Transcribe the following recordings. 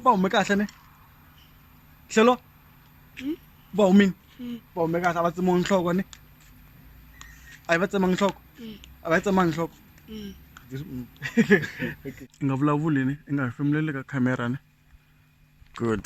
va hume kahle ne hlelo hmm? va humini hmm. va hume kahle a va tsemiwa nhloko ne a yi va tsema nhloko hmm. a va yi tsema nhloko i nga vulavuli ne i nga hefemuleli ka camera ne good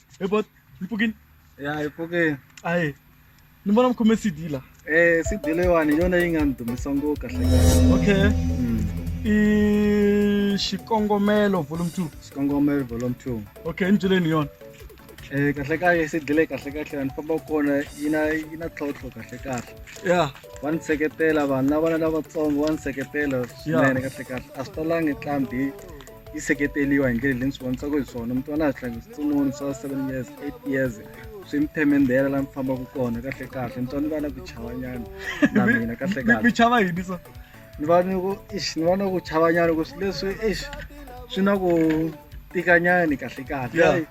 Eh but Mpugin. Yeah, Mpugin. Aye. Ni vona mkhome CD la. Eh CD leyiwani yona yi nga ni dumisa ngopfu kahle. Okay. Mm. I xikongomelo volume 2. Xikongomelo volume 2. Okay, ni byeleni yona. Eh kahle kahle se dile kahle kahle ni famba kona yi na yi na tlhotlho kahle kahle. Yeah. Wa ni seketela vanhu lava lavatsongo wa ni seketela swinene kahle kahle. A swi talangi ntlhambi yi seketeriwa hi ndlela leyi ni swi vonisaka hi swona mi twana swihlangano switsononi swa seven years eight years swi mi themendela laha mi fambaka kona kahle kahle mi twa ni va na ku chavanyana na mina kahle mi kahle chava yini so ni va ni ku ish ni va na ku chavanyana ku swi leswi ish swi na ku tikanyani kahle kahle Yeah. Ai,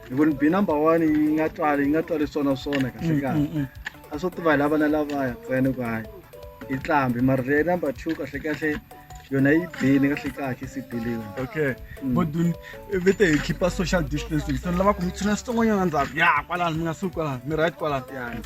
hi ku ni bi number one yi nga twali yi nga twali swona swona kahle kahle a swo tiva hi lava na lavaya ntsena ku hayi yi tlambi mara leyi number two kahle kahle yona yi bini kahle kahle sibeleni okay kodwa vete hi khipha social distancing so ni lava ku mi tshuna xitsongwanyana ndzhaku ya kwalano mi nga suki kwalano mi right kwalano yani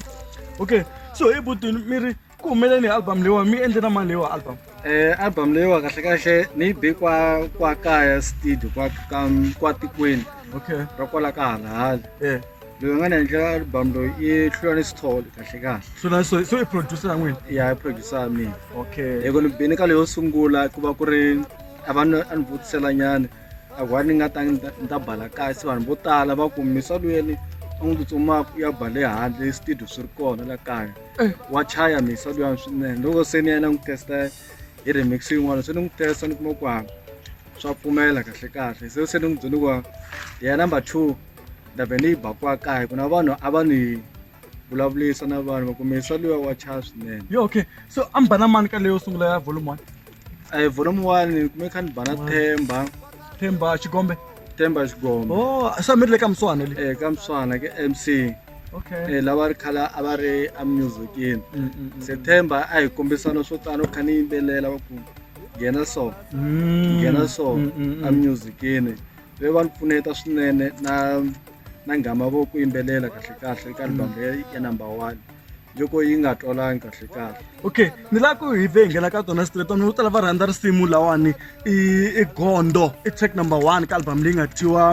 okay so hi butini mi ri ku humeleni hi album leyiwa mi endle na mali leyiwa album um album leyiwa kahle kahle ni yi be kwa kwa kaya studio kwa ka kwa tikweni okay ra kwala ka halahali um loyi a nga ni endlela album loyi i hlulani sithole kahle kahle hlulani so so i producer ya n'wina ya i producer ya mina okay hi ku ni bini ka leyo sungula ku va ku ri a va ni a ni vutisela nyana a ku va ni nga ta ni ta bala kahle se vanhu vo tala va ku misa luyeni a n'wi tsutsumaka ya bale handle studio swi ri kona la kaya eh. wa chaya misa luyani swinene loko se ni yena n'wi testa hi remix yin'wana se ni n'wi testa ni kuma ku hava swa pfumela kahle kahle se se ni n'wi byele ku ya number two ndhavuko leyi baka wa kaya ku na vanhu a va ni vulavulisa na vanhu va ku mesa luya wa chaya swinene yo okay so a mi bana mani ka leyo sungula ya volume one a hi volume one ni kume kha ni bana themba themba xigombe themba xigombe o oh, se mi ri le ka muswana le um ka muswana ke m c okay eh, lava ri khala a va ri amusicini mm, mm, mm, se themba a hi kombisana swo tano kha ni yimbelela va ku nghena so nghena so amusicini ve va ni pfuneta swinene na na nghama vo ku yimbelela kahle kahle eka album ya ya number one yoko yi nga twalangi kahle kahle okay ni la ku hi ve hi nghena ka tona straight vanhu vo tala va rhandza risimu lawani i i gondo i track number one ka album leyi nga tiwa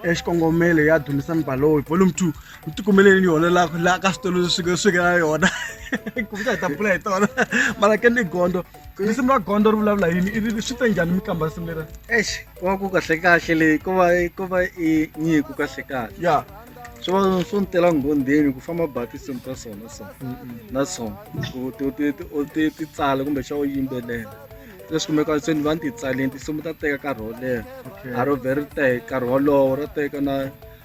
eh, xikongomelo ya dumisani baloyi volume two ni tikumeleni yona la la ka switolo swi swi nga na yona kumbe hi ta pfula hi tona mara ke ni gondo risimu ra gondzo ri vulavula yini i ri swi te njhani mi qambha risimu lera ex ku va ku kahle kahle leyi ku va ku va i nyiku kahle kahle ya swi va swo ni tela nghondheni ku famba ba tinsimu ta swona so na swona ku ti- ti- ti- u ti ti tsala kumbe xa u yimbelela leswi kumeka se ni va ni ti tsaleni tinsimu ta teka nkarhi wo leha Okay. a ro vhe ri teka nkarhi wolowo ro teka na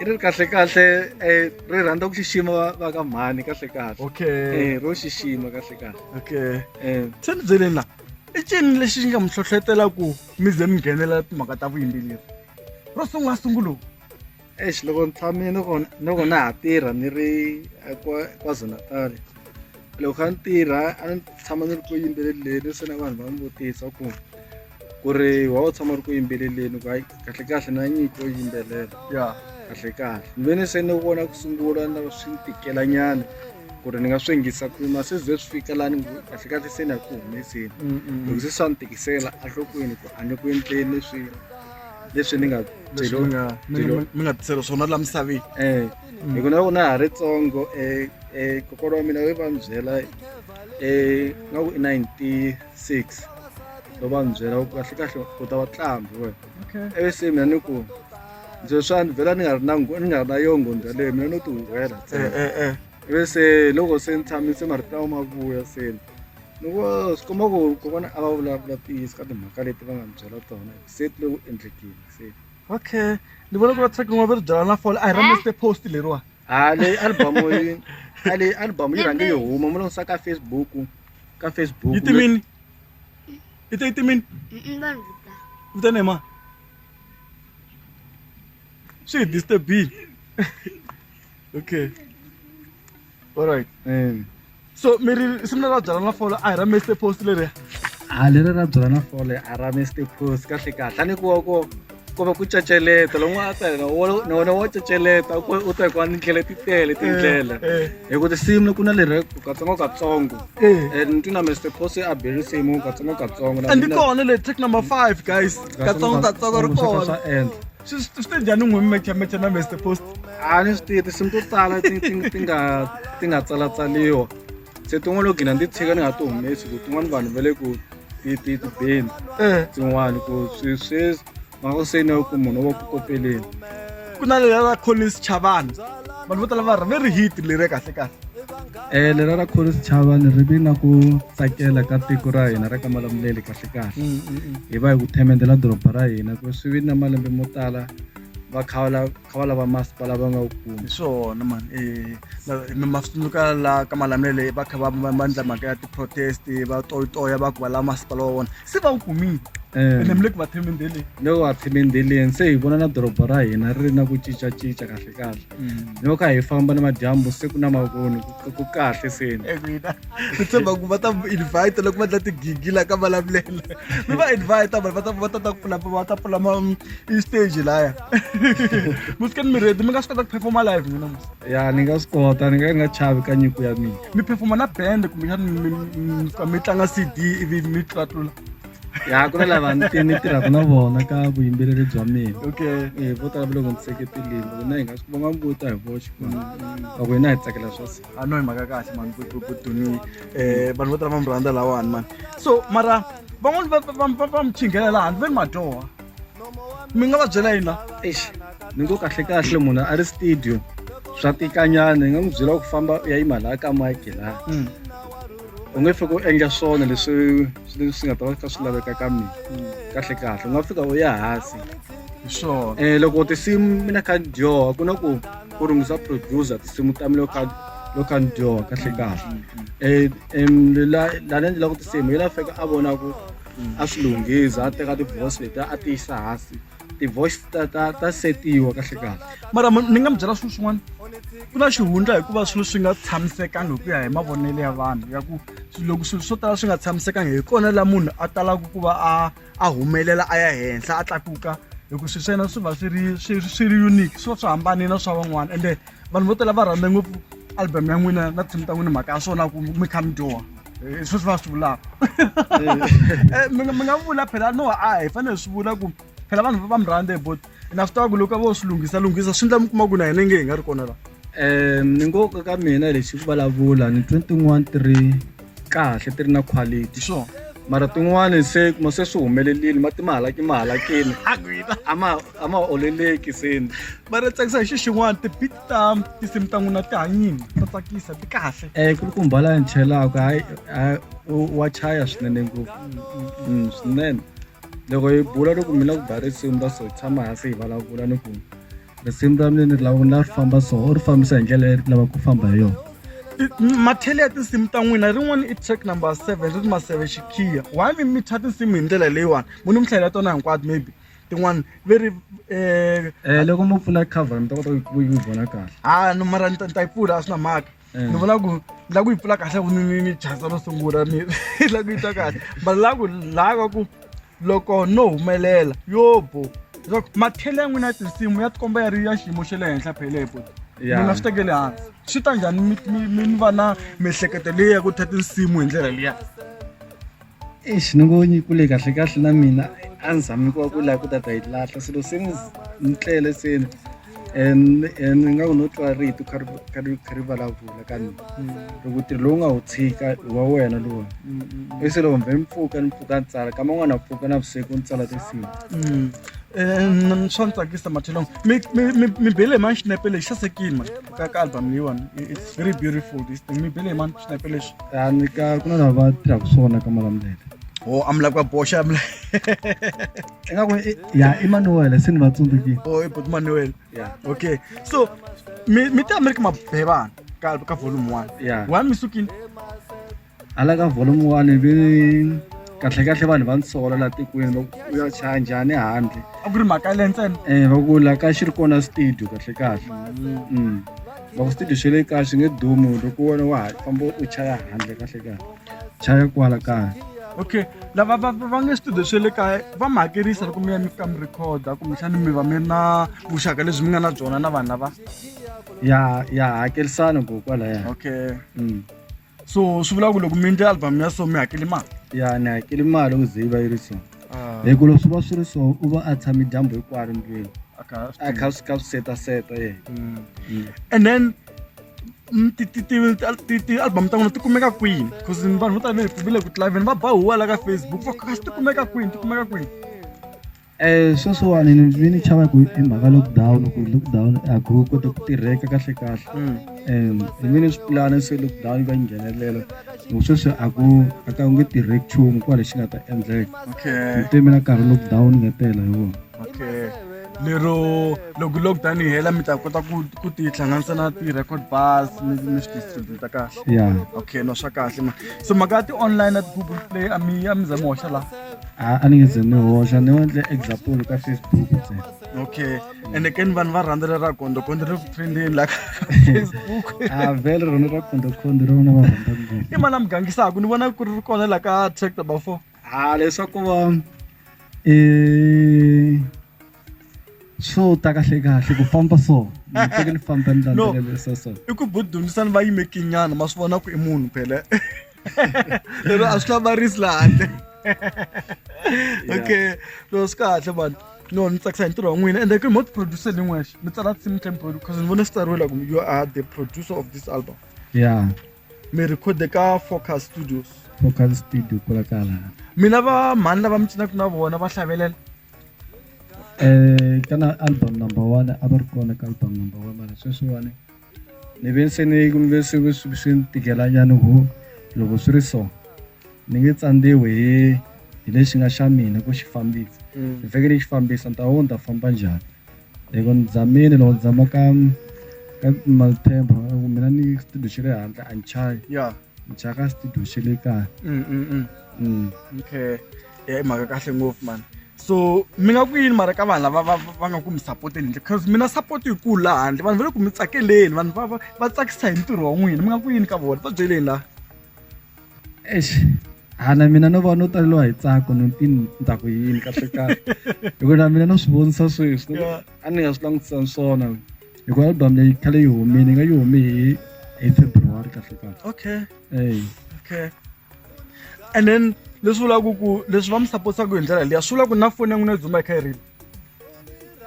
i ri kahle kahle eh, ri rhandza ku xixima va- va ka mhani kahle kahle okay Eh, ro xixima kahle kahle okay Eh, se ni byeleni la i cini lexi nga mi hlohlotela ku mi ze mi nghenelela timhaka ta vuyimbeleri ro sungula sungulu eish loko ni tshamile ni kona- ni loko na ha tirha ni ri eh, kwa- kwazulu-natal loko kha ni tirha a ni tshama ni ri ku yimbeleleni se na vanhu va ni vutisa ku ku ri wa u tshama ri ku yimbeleleni ku hayi kahle kahle na nyiko yo yimbelela ya kahle kahle ni ve ni se ni vona ku sungula na swi ni tikela nyana ku ri ni nga swi yingisa ku ma se ze swi fika laha ni ngo kahle kahle se ni ya ku humeseni Mm, mm, mm. loko se swa ni tikisela enhlokweni ku a ni ku endleni leswi leswi ni nga leswi mi nga mi byeriwa- nga- mi nga tisela swona la misaveni um hi ku na loko na ha ri tsongo um um kokolo wa mina we va ni byela um nga ku i ninety six lo va ni byela ku kahle kahle u ta va tlambi wena ivi se mina ni ku ndzi swa ni vhela ni nga ri na ni nga ri na yo nghondo yaleyo mina no ti huhwela ntsena eh, eh, eh. ivi se loko se ni tshamise marito lawa ma vuya seni ni ku swi komba ku kokwana a va vulavula tiyisi ka timhaka leti va nga ni byela tona se ti le ku endlekeni seni okay ni vona ku va tsaka n'wa veri byela na fole a hi ra meste post leriwa ha leyi album yi a leyi album yi rhange yi huma mu longisa ka facebook ka facebook yi timini yi te yi timini vitana hi ma swi hi disturbile okay alright um so mi ri simu leri ra byala na fole a hi ra meste post leriya a leri ra byala na fole a ra meste post kahle kahle a ni kuwa ko ko va ku caceleta loko a ta yena na wena wa caceleta u ta hikuva ni tlhele ti tele tindlela eh, eh. hi ku tinsimu ku na leri katsongo katsongo eh. and ni twi na mester posi a be risimu katsongo katsongo and kona le track number five guys katsongo katsongo ri kona swi swi te njhani n'wi mecha mecha na mr post a ni swi tivi tinsimu to tala ti ti ti nga ti nga tsalatsaliwa se tin'wana loko gina ndzi tshika ni nga ti humesi ku tin'wana vanhu va le ku ti ti ti beni eh tin'wana ku swi swi mhaka ku se ni ku munhu wa ku kopeleni ku na leya la collins chavana vanhu vo tala va ri ve ri hit leriya kahle kahle Eh lera ra khorisi chava ni ri vi na ku tsakela ka tiko ra hina ra ka malamuleli kahle kahle mm, mm, mm. hi va hi ku themendela doroba ra hina ku swi vi na malembe mo tala va kha va lava masipala va nga wu kumi hi swona mani eh, ma swi tsundzuka la ka malamulele va kha va va endla mhaka ya ti-protest va toyitoya va ku va lava masipala wa vona se va wu kumile eh. ene mi le ku va themendeleni le ku va themendeleni se hi vona na doroba ra hina ri ri na ku cincacinca kahle kahle mm. loko a hi famba na madyambu siku na mavoni ku kahle seni mina ni tshemba ku va ta invite loko va dla tigigi la ka vulavulela mi va invite vanhu va ta va ta ta pfula va ta pfula ma mm, i stage laya musika ni mi redi mi nga swi kota ku performa live mina ya ni nga swi kota ni nga ni nga chavi ka nyiko ya mina mi performa na band kumbe mi tlanga cd ivi mi tlatlula ya ku na lava ni ni tirhaka na vona ka vuyimbeleri bya mina okay eh vo tala loko ni seketelile loko na hi nga swi vonga mbuta hi voxe ku loko hina hi tsakela swa se a no hi mhaka kahle mani ku ku ku duni eh vanhu vo tala va mi rhandza lawani mani so mara van'wani va va va va mi chingela laha ni ve ni madyoha mi nga va byela yini la eish ni ngo kahle kahle munhu a ri studio swa tikanyana hi nga n'wi byela ku famba u ya yima laha ka mike laha u nge fika u endla swona leswi leswi swi nga ta va kha swi laveka ka mina kahle kahle u nga fika u ya hansi hi swona um loko tinsimu mina kha ni dyoha ku na ku ku rungisa producer tinsimu ta mina loko kha loko kha ni dyoha kahle kahle um la la ni endlelaka tinsimu yi la fika a vona ku a swi lunghisa a teka ti-voice letiya a ti yisa hansi ti-voice ta ta ta setiwa kahle kahle mara ni nga mi byela swilo swin'wana ku na xihundla hikuva swilo swi nga tshamisekangi hi ku ya hi mavonelo ya vanhu ya ku loko swilo swo tala swi nga tshamisekangi hi kona la munhu a talaka ku va a a humelela a ya henhla a tlakuka hikuva swilo swa yena swi va swi ri swi swi ri unique swi va swi hambane na swa van'wana ende vanhu vo tala va rhandza ngopfu album ya n'wina na tinsimu ta n'wina mhaka ya swona ku mi kha mi dyoha Eh, swi swi va swi vulaka eh, mi nga vula phela no a hi fanele swi vula ku phela vanhu va mi rhandze but na swi tiva ku loko vo swi lunghisa lunghisa swi ndla mi kuma ku na hina nge hi nga ri kona laha um ni ngo ka ka mina lexi ku vulavula ni twe tin'wana ti ri kahle ti ri na quality sure mara tin'wani se kuma se swi humelelile mati ma halaki ma halakile a ma a ma oleleki se mara tsakisa hi xi xin'wana ti ta tinsimu ta n'wina ti hanyini ta tsakisa ti kahle um ku ri ku mbala ni chelaka hayi wa chaya swinene ngopfu mm, swinene loko hi bula loko mina ku ba risimu ra so hi tshama hansi hi vulavula ni ku risimu ra mina ni lava ni lava ri famba so u ri fambisa hi ndlela leyi lava ku famba hi yona mathele ya tinsimu ta n'wina rin'wana i track number seven ri ri maseve xikhiya why mi mitha tinsimu hi ndlela leyiwani mu ni mi hlayela tona hinkwato maybe tin'wana ve ri um loko mo pfula cover mi ta kota ku yi vona kahle ha no mara ni ta yi pfula a swi na mhaka eh. ni vona ku ni lava ku yi pfula kahle ku ni ni chasa ro sungula ni lava ku yi twa kahle but lava ku laha ka ku loko no humelela yo bo leswaku mathele ya n'wina ya tinsimu ya tikomba ya ri ya xiyimo xa le henhla phelepo mina swi tekele hansi swi ta njhani mi va na miehleketo leyi ya ku tha tinsimu hi ndlela liya Eish ni ngo ni kule kahle kahle na mina a ni zami ku va ku laha ku ta ta yi lahla swilo se ni ni tlele se ni and and ni nga ku no twa rito kha ri kha ri kha ri vulavula ka mina loko ntirho lowu nga wu tshika i wa wena lowu i se loko mbe ni pfuka ni pfuka ni tsala kama n'wana pfuka na vusiku ni tsala tinsimu swa ni tsakisa mathelong mi mi mi mi bele hi mani xinepe lexi sasekile mani tsaka album leyiwani it's very beautiful this thing mi bele mani xinepe lexi a ni ka ku na lava tirhaka swona ka malamulele o oh, amula kwa boxa amula eka ku ya Emmanuel se ni va tsundzukile o oh, i but Emmanuel yeah okay so mi mi ta America mabhevana ka ka volume 1 yeah wa mi sukini hala ka volume one ve kahlekahle vanhu va nsola laha tikweni va ku ya chaya njhani handle a ku ri mhaka ya le ntsena um va ku la ka xi ri kona studio kahlekahle um va ku studio xi le kaya xi nge dumi loko wena wa ha famba u chaya handle kahlekahle chaya kwala kaya okay lava va va nge studio swe le kaya va mi hakerisa loko mi ya mi fika mi recorda kumbexani mi va mi ri na vuxaka lebyi mi nga na byona na vanhu lava ya ya hakerisana ko kwalaya okay um so swi vula ku loko mi endle album ya so mi hakeli mali ya ni hakeli mali ku ze yi va yi ri so ah. hi ku loko swi va swi ri so u va a tshame dyambu hinkwaro ndlwini a kha a swi kha swi setaseta ye mm. mm. and then mm, ti-album ta n'wina ti kumeka kwini bcause vanhu vo tala va le ku tlhaveni va ba huwa la ka facebook va kha ti kumeka kwini ti kumeka kwini Eh, sweswiwani ni vi ni chava ku i mhaka lockdown ku lockdown a ku kota ku tirheka kahle kahle mm. um ni vi ni swi pulana se lockdown yi va yi nghenelela loko sweswi a ku a ka ku nge tirheki nchumu ku va lexi nga ta endleka ni te mina nkarhi lockdown nga tela hi wona lero loko lockdown yi hela mi ta kota ku ku ti hlanganisa na ti-record bars mi mi swi distributa kahle ya okay no swa kahle ma so mhaka ya ti-online na ti-google play a mi a mi za mi hoxa laha a a ni nge ze ni hoxa ni endle example ka facebook ntsena okay ende ke ni vanhu va rhandza lera kondo kondo ri trendini la ka facebook a vele rona ra kondo kondo ri vona va rhandza ngopfu i mali a mi gangisaka ni vona ku ri kona la ka track number four a leswaku va i swo ta kahle kahle ku famba so teke ni famba ni landzelela so so i ku budunisani va yime kinyana ma swi vona ku i munhu phele lero a swi hlamarisi la handle okay no swi kahle mani no ni tsakisa hi ntirho wa n'wina ende ku mo tiproducer ni n'wexe mi tsala team time produce because ni vone swi tsariwe la ku you are the producer of this album ya mi record-e ka focus studios focus studio kula kala mina va mhani lava mi cinaka na vona va hlavelela um kana album number one a va ri kona ka album number one mara sweswiwani ni ve se ni ni ve swi swi swi ni tikelanyana ku loko swi ri so ni nge tsandziwi hi hi lexi nga xa mina ku xi fambisa mm. ni fanekele ni xi fambisa ni ta wo ni ta famba njhani loko ni zamile loko ni zama ka ka malithemba ku mina ni studio xi le handle a ni chayi ni chaya ka studio xi le kaya mm, mm, okay i mhaka kahle ngopfu mani so mi nga ku yini mara ka vanhu lava va va nga ku mi sapoteni handle cause mina support yi kulu laha handle vanhu va le ku mi tsakeleni vanhu va va va tsakisa hi ntirho wa n'wina mi nga ku yini ka vona va byeleni laha eish hana mina no va no taleliwa hi tsako no ti ni ta ku yini kahle kahle hikuva na mina no swi vonisa sweswi Yeah. a ni nga swi langutisani swona hikuva album leyi khale yi humile yi nga yi hume hi hi february kahle kahle okay eyi okay and then leswi vulaka ku leswi va mi supportaka hi ndlela leya swi vula ku na foni ya n'wina yi dzumba yi kha yi rila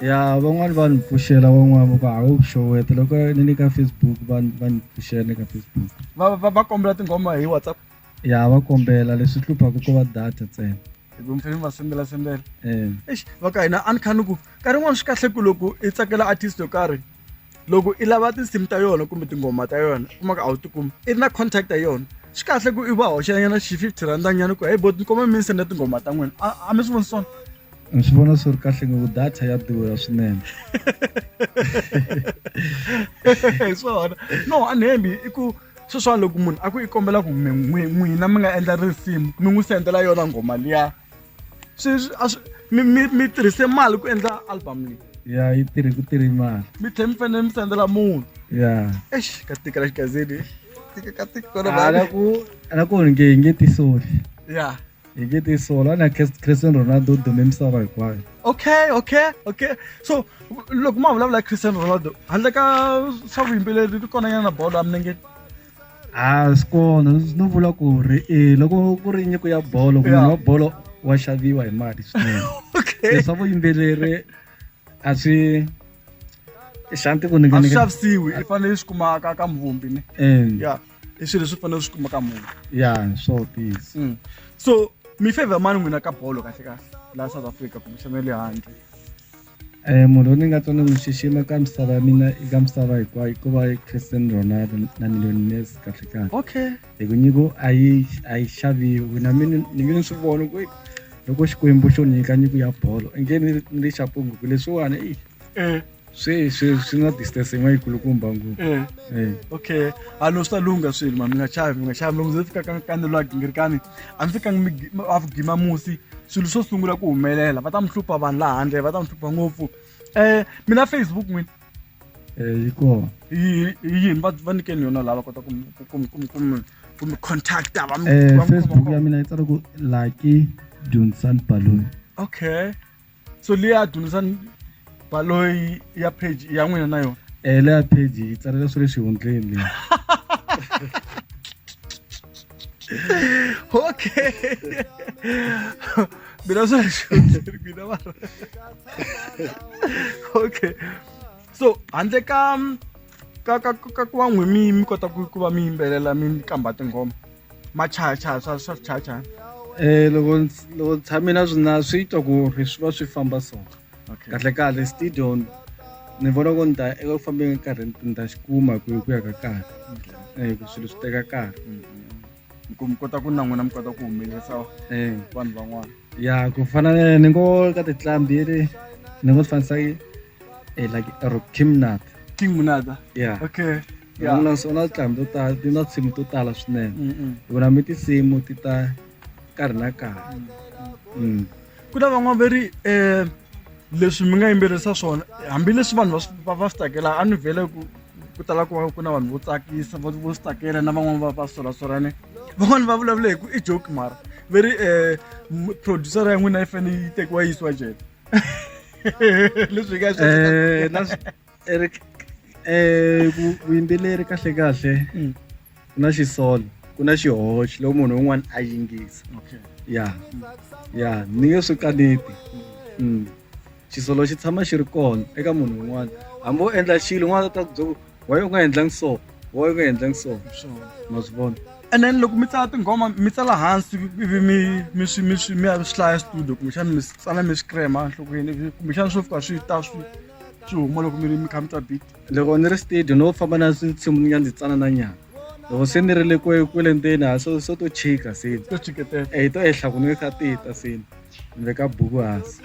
ya van'wani va ni pfuxela van'wani va ku a wu xoweta loko ni le ka facebook va ni- va ni pfuxela ni le ka facebook va va va kombela tinghoma hi whatsapp ya va kombela leswi hluphaka ko va data ntsena hi ku mfeni va sendela sendela um Eish, va ka hina a ni kha ni ku nkarhi yin'wana swi kahle ku loko i tsakela artist yo karhi loko i lava tinsimu ta yona kumbe tinghoma ta yona u kuma ku a wu tikumi i ri na contact ya yona swi kahle ku i va hoxanyana xi fifty rhanda nyana ku heyi bo ni kombela mi ni senda tinghoma ta n'wina a a mi swi voni swona ni swi vona swi ri kahle ngopfu data ya durha swinene hi swona no a ni hembi i ku sweswiwa loko munhu a ku i kombela ku n'wina mi nga endla risimu mi n'wi sendela yona nghoma liya sweswi a swi mi mi mi tirhise mali ku endla album leyi ya yi tirhi ku tirhi mali mi tlhe mi fanele mi sendela munhu ya ex ka tikela xigazini tika ka tika kona ala ku ala ku nge hi nge tisoli ya hi nge tisoli ana Cristiano Ronaldo dume misava hinkwayo okay okay okay so loko ma vulavula Cristiano Ronaldo handle ka swa vuyimbeleri ri kona nyana bolo ya milenge a swi kona no vula ku ri e loko ku ri nyiko ya bolo munhu wa bolo wa xaviwa hi mali swinene leswa vuyimbeleri a swi xanti ku a swi xavisiwi i fanele swi kumaka ka muvumbi ne ya i swilo leswi fanele swi kumaka munhu ya swo tisa mm. so mi favor mani n'wina ka bolo kahle kahle laha south africa kumbe xana le handle Eh, munhu loyi ni nga twa ni n'wi xixima ka misava ya mina eka misava hinkwayo ku va christian ronaldo na miliyoni messi kahle kahle okay hi ku nyiko a yi a yi xaviwi na mina ni nge ni swi vona ku loko xikwembu xo nyika nyiko ya bolo inge ni ni ri xapungu ku leswiwani i eh swi swi swi na distance yin'wana yikulukumba ngopfu eh eh okay a lo swi ta lungha swilo ma mi nga chavi mi nga chavi loko ndzi fika ka ka ni lwa gingirikani a mi fikanga mi gi- mi- a ku gima musi swilo swo sungula ku humelela va ta mi hlupha vanhu laha handle va ta mi hlupha ngopfu um mina facebook n'wini yi kona hi yini va va nyikeni yona lava kota ku mi- ku ku mi- ku mi- ku mi- ku mi contacta va mi- va mi khoma facebook ya kona. mina yi tsala ku lucky dunsan balloon okay so leyi a dyondzisa baloyi ya page ya n'wina na yona eh leya page yi tsalela swi le xihundleni leyi okay mina swi le xihundleni mina mara okay so handle ka ka ka ka ku va n'wi mi mi kota ku ku va mi yimbelela mi kamba tinghoma machayachaya swa swa swichayachaya eh loko loko tshame na swina swi twa ku ri swi va swi famba so kahle kahle stadion ni vona ku ni ta eku fambeni karhi ni ta xi kuma ku ku ya ka karhi eh ku swilo swi teka karhi mm-hmm. ku mi kota ku na n'wina mi kota ku humelerisa eh. vanhu van'wana ya ku fana ni ngo ka titlambi ri ni ngo swi fanisa eh, like Rock Kimnat. Kimnat. Yeah. Okay. ya n'wina so na tinhlambi to tala ti na tinsimu to tala swinene mm, mm. vona mi tinsimu ti ta nkarhi na nkarhi mm, ku na van'wana va ri um leswi mi nga yimbelisa swona hambileswi vanhu va va swi tsakela a ni vhele ku ku tala ku va ku na vanhu vo tsakisa vo swi tsakela na van'wana va va solasolane van'wana va vulavula hi ku i joke mara ve ri um producer ya n'wina yi fanele yi tekiwa yi yisiwa jele leswi hi nga swi eh, Eric eh vu- vuyimbeleri kahle kahle Mm. ku na xisolo ku na xihoxo loko munhu un'wana a yingisa okay ya ya ni nge swi kaneti Mm. xisolo xi tshama xi ri kona eka munhu un'wana hambi wo endla xilo un'wana ta ku byela ku waye u nga endlangi so waye u nga endlangi so sure ma swi vona and then loko mi tsala tinghoma mi tsala hansi ivi mi mi swi mi swi mi ya swi hlaya studio kumbexana mi swi tsala mi swi krema enhlokweni ivi kumbexana swo fika swi ta swi xi huma loko mi ri mi kha mi twa beat loko ni ri studio no famba na swinsimu ni nga ndzi tsana na nyana loko se ni ri le kwe kwele ndzeni ha so so to chika se to chiketela eh to ehla ku ni kha tita se ni veka buku hansi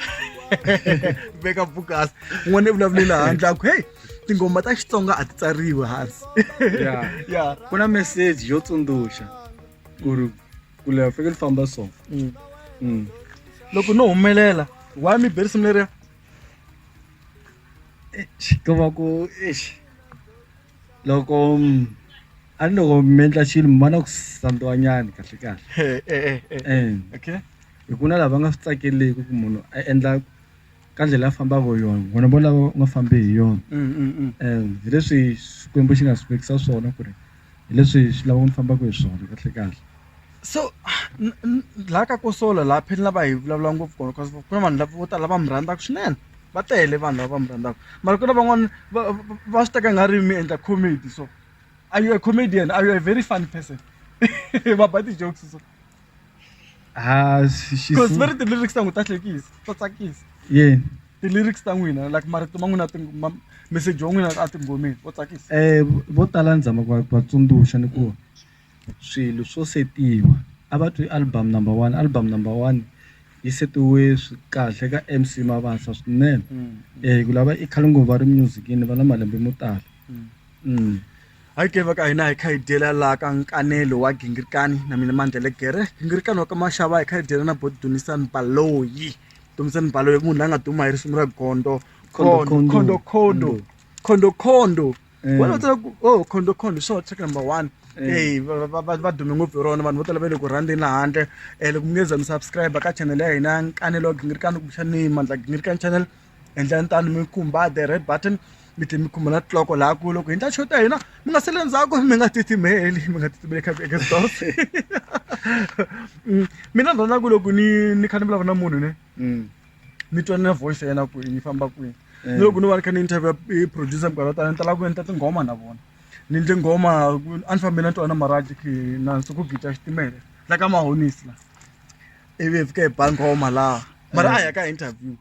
veka buku hansi n'wana i vulavulela handle aku hey tingoma ta xitsonga a ti tsariwi hansi ya ya ku na message yo tsundzuxa ku ri ku leha fanekele famba so mm. mm. loko no humelela why mi berisimu leriya ko va ku eish loko a ni loko mi endla xilo mi va na ku sandziwa nyana kahle kahle Eh, eh, eh, eh. and Okay. hi ku na lava nga swi tsakeleki ku munhu a endla ka ndlela a fambaka hi yona vona vo lava nga fambi hi yona Mm, mm, mm. and hi leswi xikwembu xi nga swi vekisa swona ku ri hi leswi hi swi lavaka ni fambaka hi swona kahlekahle. So la ka ku solo la phela lava hi vulavula ngopfu kona cause ku na vanhu lava vo tala va mi rhandzaka swinene va tele vanhu lava va mi rhandzaka mara ku na van'wana va va swi teka nga ri mi endla comedy so are you a comedian are you a very funny person va ba ti-jokes so. ha xi- xi- because va ri ti-lyrics ta n'wi ta hlekisa ta tsakisa yini ti-lyrics ta n'wina like marito ma n'wina ting- ma- message wa n'wina a tinghomeni wo tsakisa eh vo tala ni zama ku va va tsundzuxa ni ku swilo swo setiwa a va twi album number one album number one yi setiwe swi kahle ka mc mabasa swinene eh ku lava i khale ngopfu va ri music-ini va na malembe mo tala Hi ke va ka hina hi kha hi dyela laha ka nkanelo wa gingirikani na mina mandlele gere gingirikani wa ka maxava hi kha hi dyela na bo dumisani baloyi dumisani baloyi munhu la nga duma hi risimu ra gondo khondokhondo khondokhondo wena u tsala ku o khondokhondo hi swona track number one eyi va dume ngopfu hi rona vanhu vo tala va le ku rhandzeni la handle loko mi nge za mi subscribe ka channel ya hina nkanelo wa gingirikani kumbexani mandla gingirikani channel endlani tani mi khumba the red button mi tlhe mi khumba na tiloko laha ku loko hi ndla show ta hina mi nga sele ndzhaku mi nga titimeli mi nga titimeli kha eka stores mm, mina ni rhandza ku loko ni ni kha ni vulavula na munhu ne mm. ni twa na voice ya yena ku yi famba kwini eh. ni loko ni va ni kha ni interview i producer mikarhi yo tala ni tala ku endla tinghoma na vona ni ndle nghoma a ni fambile na twana maraji ki na nsuku gita xitimele la ka mahonisi la ivi hi fike hi ba nghoma laha mara a hi ya ka interview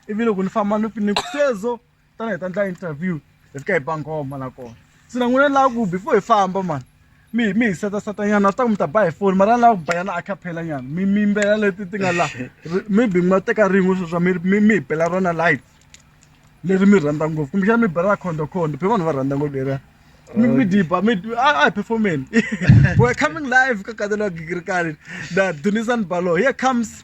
ivi loko ni famba ni ni sweswo ta ni hi ta endla interview hi fika hi ba nghoma la kona se na n'wina ni lava ku before hi famba mani mi mi hi setaseta nyana swi ta ku mi ta ba hi foni mara ni lava ku banyana a caphela nyana mi mi yimbelela leti ti nga laha maybe mi nga teka rin'we sweswa mi mi mi hi bela rona live leri mi rhandza ngopfu kumbexana mi bela khondokhondo phe vanhu va rhandza ngopfu leriya mi mi diba mi a hi performeni we're coming live ka katela gigirikani na dunisani balo here comes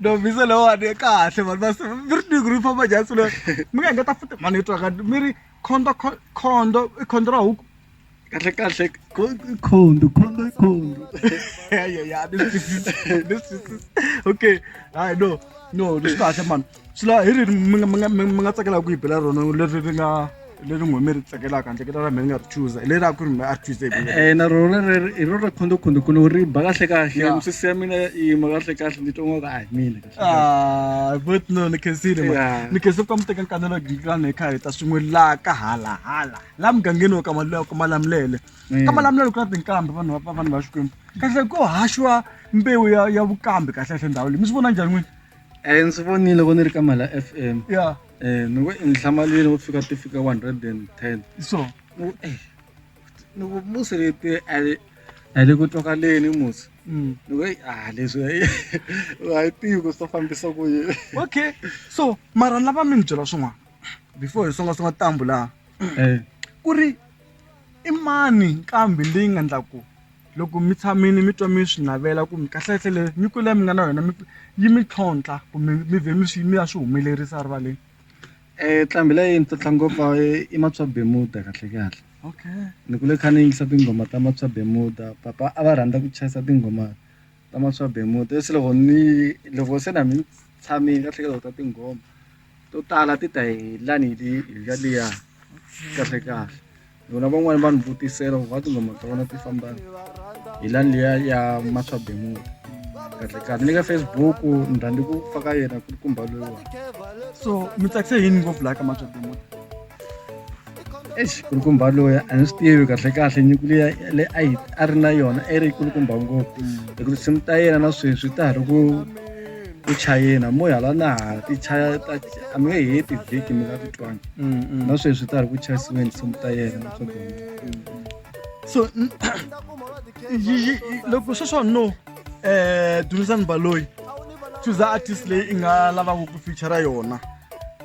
no misa lewo a ni kahle vanhu va mi ri tiku ri famba jasi leyo mi nga engeta futi mani yi twaka mi ri khondo khondo i khondo ra huku kahle kahle khondo khondo i khondo ya ya ya ni swi twisisi ni swi twisisi okay hayi no no ni swi kahle mani swi lava hi ri mi nga mi nga mi mi nga tsakela ku yi bela rona leri ri nga leri n'we mi ri tsakelaka handle ka leri mi nga ri chuza hi leri a ku ri mi a ri chuze hi ku Eh, na rona leri hi rona khondokhonde ku no ri ba kahle kahle Yeah. misisi ya mina yi yima kahle kahle ni twa nga ku a hi mina kahle kahle. Ah, but no ni khensile ma Yeah. ni khense ku ka mi teka nkanelo gilani hi kha hi ta swin'we laha ka halahala laha mugangeni wa ka Mal- wa ka malamulele ka malamulele ku na tinkambi vanhu va- va- vanhu va xikwembu kahle ko haxiwa mbewu ya ya vukambi kahle kahle ndhawu leyi mi swi vona njhani n'wini Eh ndzi vonile loko ni ri ka Mhala FM. Yeah. Eh ni ku i nhlamalwini wo fika ti fika 110. So ni ku eh ni ku musi leti a li a li ku twakaleni musi. Mm. Ni ku ah leswi a yi tivi ku swi fambisa ku yini. Okay. So mara ni lava mi ni byela swin'wana before hi songa songa tambu laha. Eh. Ku ri i mani kambe leyi nga ndlaku. loko mi tshamile mi twa mi swi navela ku mi kahlekahle leyi nyiko leyi mi nga na yona mi yi mi tlhontlha kumbe mi vhe mi swi mi ya swi humelerisa erivaleni nqambi leyi ni tlotla ngopfu i Matswa Bemuda kahlekahle okay ni kule kha ni yingisa tinghoma ta Matswa Bemuda papa a va rhandza ku chayisa tinghoma ta Matswa Bemuda se loko ni loko se na mi tshamile kahlekahle u ta tinghoma. to tala ti ta hi lani hi nga liya kahle kahle vona van'wani va ni vutisela ku va tinghoma ta vona ti famba hi lani liya ya maswabemuti kahle kahle ni ka facebook ni rhandzi ku faka yena ku ri kumba loyiwani so mi tsakise yini ngopfu laha ka maswabemuti eish kulukumba loyi a ni swi tivi kahle kahle nyuku leyi le a yi a ri na yona a yi ri kulukumba ngopfu hikuva tinsimu ta yena na sweswi ta ha ri ku ku chayina mo hala na ha ti chaya ta a mi nge heti vhiki mi nga ti twangi na sweswi ta ha ri ku chayisiweni tinsimu ta yena na swa gona so n- yi- yi- yi- loko sweswo no um dunisani baloyi chuza artist leyi i nga lavaka ku feature yona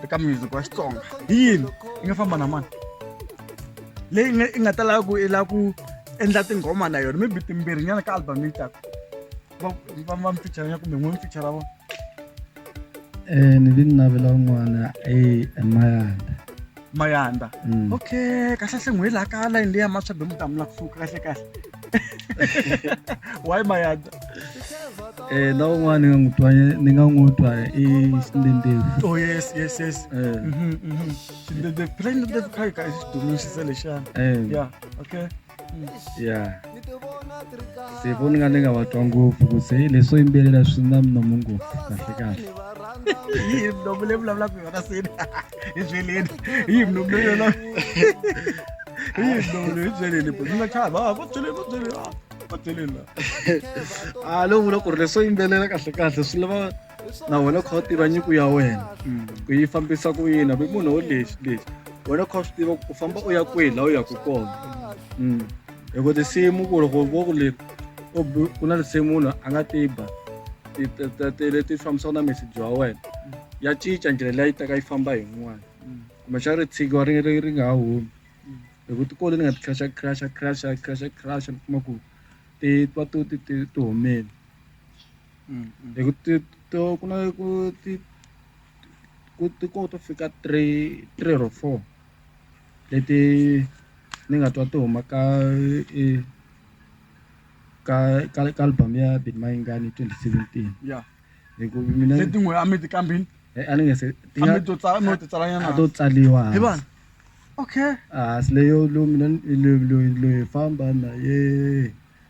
eka music wa xitsonga hi yini i nga famba na mani leyi nga i nga ta lava ku i lava ku endla tinghoma na yona maybe timbirhi nyana ka album yi taka va va va mi feature ya kumbe n'we mi feature vona Eh, ni vi ni navela un'wana i Mayanda. mayanda Mm. okay kahle hle n'hweli laha ka layini leya maswabe mutamula ku fuka kahle kahle why mayanda Eh, na un'wana ni nga n'wi twa ni nga n'wi twa i xindendezi oh yes yes yes Eh, Mhm, mhm. Xindendezi- phela xindendezi kha yi ka i xidumu xisa lexana eh. ya okay ya se voni nga ni nga va twa ngopfu ku se leswo yimbelela swi na minomo ngopfu kahle kahle yihi minomo leyi vulavulaka hi yona seni endleleni yihi minomo leyi yona yihi minomo leyi byeleni bo nga chava va va byeleni va byeleni va byeleni la a ah, lowu vula ku ri leswo yimbelela kahle kahle swi lava na wena kha u tiva nyiko ya wena mm. ku yi fambisa ku yini hambi munhu wo lexi lexi wena kha u swi tiva ku famba u ya kwihi laha u yaku kona mm. hi ku tinsimu ku loko vo ku leri ku na tinsimu munhu a nga tiba tele ti fambisaka na meseji wa wena ya cinca ndlela leyi taka yi famba hi n'wana mm. kumbexana ri tshikiwa ri ri ri nga ha humi mm. hi ku tikolo ni nga ti crasha crasha crasha crasha crasha ni kuma ku ti twa to ti ti humele mm, mm. hi ku ti to ku na ku ti ku ti ko to fika three three or four leti ni nga twa ti huma ka e, ka ka ka album ya Big Mind Gun 2017 yeah hi ku mina leti n'we a mi ti kambini eh, a ni nge se ti nga to tsala no ti tsala nyana to tsaliwa hi vanhu okay ah sileyo lo mina lo lo lo famba na ye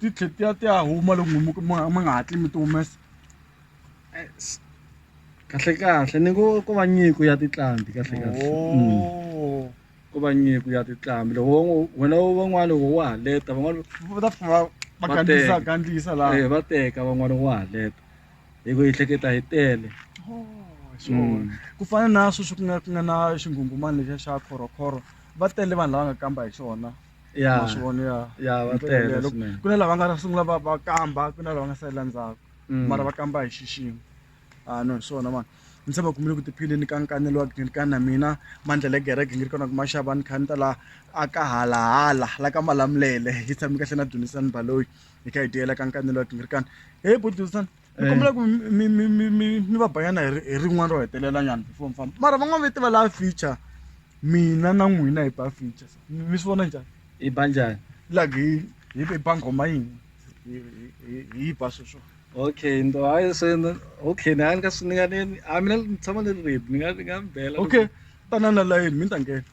ti tlhe ti ya ti ya huma loko mi mi nga hatli mi ti humesa kahle kahle ni ngo ko va nyiko ya tinqambi kahle kahle oh. ko va nyiko ya tinqambi loko wena van'wana loko wa ha leta van'wana va ta fika va gandlisa gandlisa laha eh, va teka van'wana wa ha leta hi ku yi hleketa hi tele oh. Mm. ku fana na sweswi ku nga ku nga na xinghunghumani lexiya xa khorokhoro va tele vanhu lava nga kamba hi xona ya ma swi vona ya ya va Ndlela tele leyo, loko- swinene ku na lava nga sungula va va kamba ku na lava nga salela ndzhaku Mm. mara va kamba hi xiximo a no hi swona mani ni se va kumile ku tiphileni ka nkanelo wa gidi ka na mina mandlele gereke ngi ri kona ku ma xava ni kha ni ta la a ka halahala la ka malamulele hi tshami kahle na dunisani baloyi hi kha hi tiyela ka nkanelo wa gingirikani heyi budusani ni kombela ku mi mi mi mi mi va banyana hi hi rin'wana ro hetelela nyana before mi famba mara van'wana va tiva laha feature mina na n'wina hi ba feature mi swi vona njhani i ba njhani like hi hi hi ba nghoma yini hi hi hi yi ba sweswo okay ndo hayi se ni- okay ni nga ni nga swi ni nga ni a mina ni tshama ni ri ready ni nga ni nga mi bela okay tanana layeni mi ni ta nghena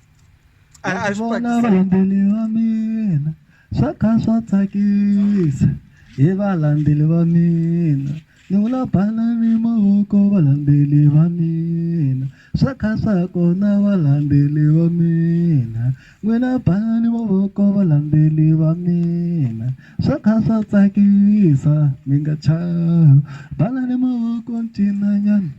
a a swi vona tsakisa varhambeni va mina swa kha swa tsakisa hi varhambeli va mina ni vula bana ni mavoko varhambeli va mina swa kha swa kona varhambeli va mina n'wina bana ni mavoko varhambeli va mina swa kha swa tsakisa mi nga chavi bana ni mavoko ncinanyana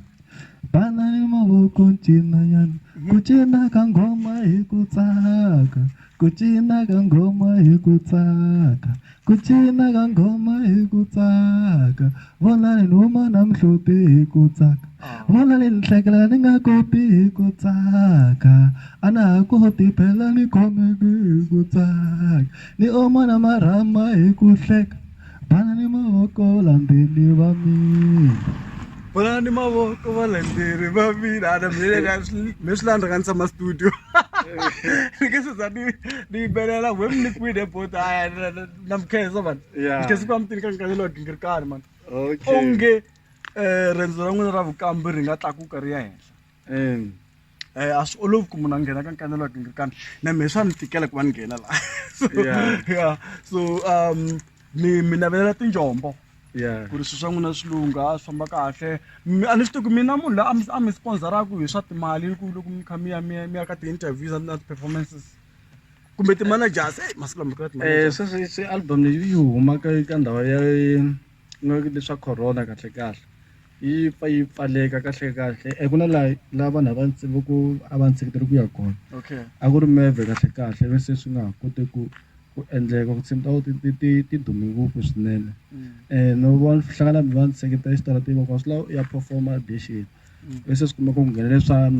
Bana ni mavoko ncina nyana ku cina ka nghoma hi ku tsaka ku cina ka nghoma hi ku tsaka ku cina ka nghoma hi ku tsaka vona ni huma na muhloti hi ku tsaka vona ni ni hlekela ni nga koti hi ku tsaka a na ha koti phela ni khomeki hi ku tsaka ni oma na marhama hi ku hleka Banani mavoko valandzeri va mina. Banani mavoko valandzeri va mina. Ana me swi landza ka ni tshama studio. Ni nge se za ni ni yimbelela we mi ni kwini bot a na mi khensa mani. Ni khensa ku va mi tini ka nkarhi lowu gingirikani mani. Onge riendzo ra n'wina ra vukambe ri nga tlakuka ri ya henhla. um a swi olovi ku munhu a nghena ka nkanelo wa tingrikana na mehe swa ni tikela ku va ni nghena laha so ya so um mi mi navelela tinjombo ku ri swilo swa n'wina swi lungha swi famba kahle a ni swi tivi ku mina munhu la a mi sponsoraka hi swa timali ku loko mi kha mi ya mi ya mi ya ka ti-interviews na ti-performances kumbe ti-managers eyi masiku lama ka ti-managers sweswi album leyi yi huma ka ka ndhawu ya ku nga leswa corona kahlekahle yi pfa yi pfaleka kahlekahle eku na laha laha vanhu a va va ku a va ndzi seketela ku ya kona okay a ku ri meve kahlekahle ivi se swi nga ha koti ku ku endleka ku tshimi ta ti ti ti ti dume ngopfu swinene um no va hlangana mi va ndzi seketela exitarateni loko swi lava u ya perform-a audition. se swi kuma ku nghenele swa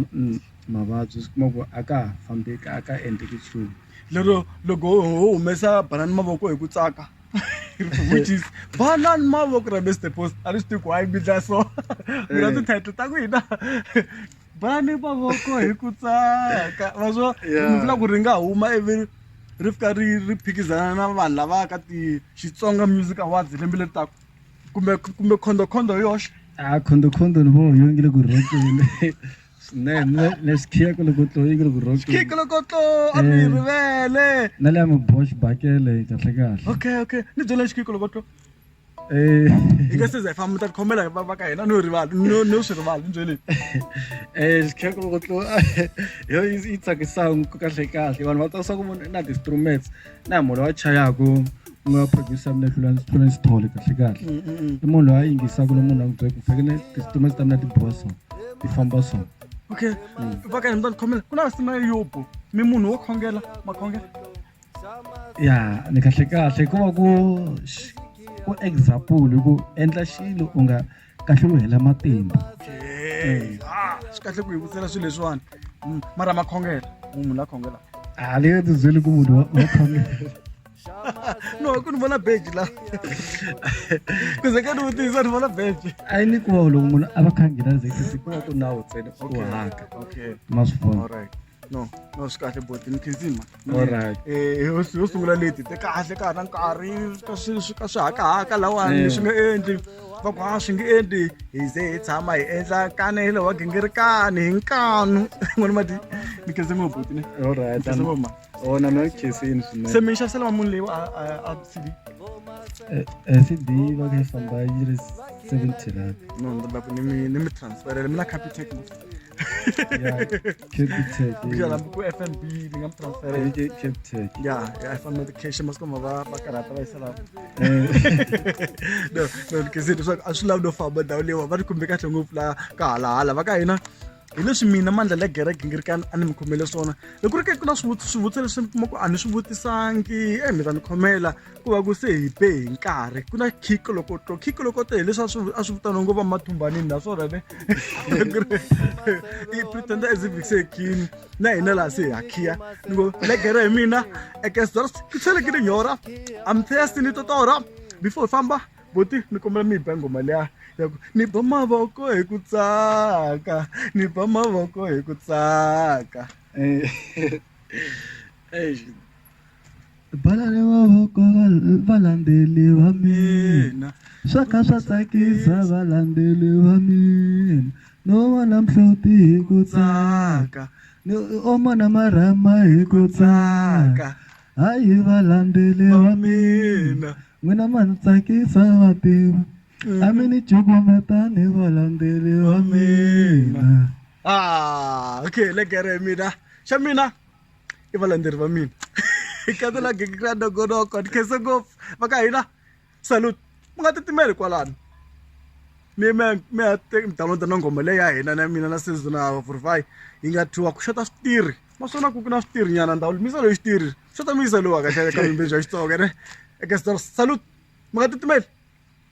mavabyi swi kuma ku a ka ha fambeki a ka endleki nchumu lero loko ho humesa banana mavoko hi ku tsaka which is banana mavoko ra Mister Post a ni swi tivi ku why mi dya so mi na ti-title ta ku hina banana mavoko hi ku tsaka ma swo ni vula ku ri nga huma ivi ri fika ri ri phikizana na vanhu lava ka ti Xitsonga Music Awards lembe leri taka. kumbe kumbe khondhokhondho hi yoxe a khondhokhondho ni vo yo ngi le ku rhokeni swinene le xikhiyeko loko tlo yi ngi le ku rhokeni khiyeko loko tlo a ni yi eh. rivele na le ya mibosh bakele kahle kahle okay okay ni byela xikhiyeko loko tlo eh. hi nga seza hi famba ta khomela va ka hina no rivala no no swi rivala ni byele eh xikhiyeko loko tlo yo yi tsakisaka kahle kahle vanhu va tsakisa ku vona na ti-instruments na munhu loyi a chayaka u nga producer mina tlula tlula ndzi thole kahle kahle mm, mm, mm. i munhu loyi a yingisaka lomu munhu a n'wi byaka fanekele ti-statement ta mina ti biwa so ti famba so okay vaka ni mtani khomela ku na sima yobo mi munhu wo khongela makhongela ya ni kahle kahle hikuva ku ku example ku endla xilo u nga kahle ku hela matimba swi kahle ku hi vutsela swilo leswiwani mm, mara makhongela munhu la khongela a le nga tibyeli ku munhu wa khongela no ku ni vona beji la ku ze ka ni vutisa ni vona beji a yi ni ku va loko munhu a va khangela ze ku va ku nawu ntsena u haka ma swi vona no no swi kahle boti ni khensi mhani Mm. Alright. Eh, yo yo sungula leti te kahle ka ha ri na nkarhi ka swi swi ka swi hakahaka lawani Eh. swi nga endli va ku a swi nge endli hi ze hi tshama hi endla kanele wa gingirikani hi nkanu n'wana mati ni khensi ngopfu boti ne Alright. Khensa ngopfu, ma. Oh, na mina khensini se swinene. mi yi xavisela munhu leyi a a a cd Eh, eh, CD va ka yi famba yi ri 70 rand. no ni lava ku ni mi ni mi transferela mi na capitec ya capitec kushana ku fnb ni nga mi transfera hi ke capitec ya ya fana na ti-cash masiku ma va va karhata va yisela no no ni kizile leswaku a swi lavi no famba ndhawu leyiwa va ni khumbe kahle ngopfu la ka halahala va ka hina hi leswi mina mandla le gereke ngi ri ka a ni mi khomele swona loko ri ke ku na swivutiso swivutiso leswi ni kuma ku a ni swi vutisangi e mi ta ni khomela ku va ku se hi be hi nkarhi ku na khiko loko to khiko loko te hileswi a swi a swi vitaniwa ngo va mathumbanini naswona ne i pretender as if se khini na hina laha se hi ha khiya ni ngo legere hi mina ekesdors ku tlhele ki ni nyora am thirsty ni totora before hi famba boti ni kombela mi hi ba ngoma liya ya ku ni ba mavoko hi ku tsaka ni ba mavoko hi ku tsaka eh, eh, balani mavoko valandzeli va mina swa kha swa tsakisa valandzeli va mina no vona mhloti hi ku tsaka ni omona marhama hi ku tsaka hayi valandzeli va mina n'wina ma ni tsakisa va tiva a mi ni cukumetani valandzeli va mina ah okay legere mina xa mina i valandzeri va mina khata la gikikira nogonoko ni khense ngopfu va ka hina salute mi nga titimeli kwalano mi mi mi ya downloada na nghoma leyi ya hina na mina na sezo na vurify yi nga thiwa ku xota switirhi naswona ku na switirhi nyana ndhawu misa loyi xitirhi xota misa lowa kahle ka vimbeji ya xitsonga ne eka salute mi nga titimeli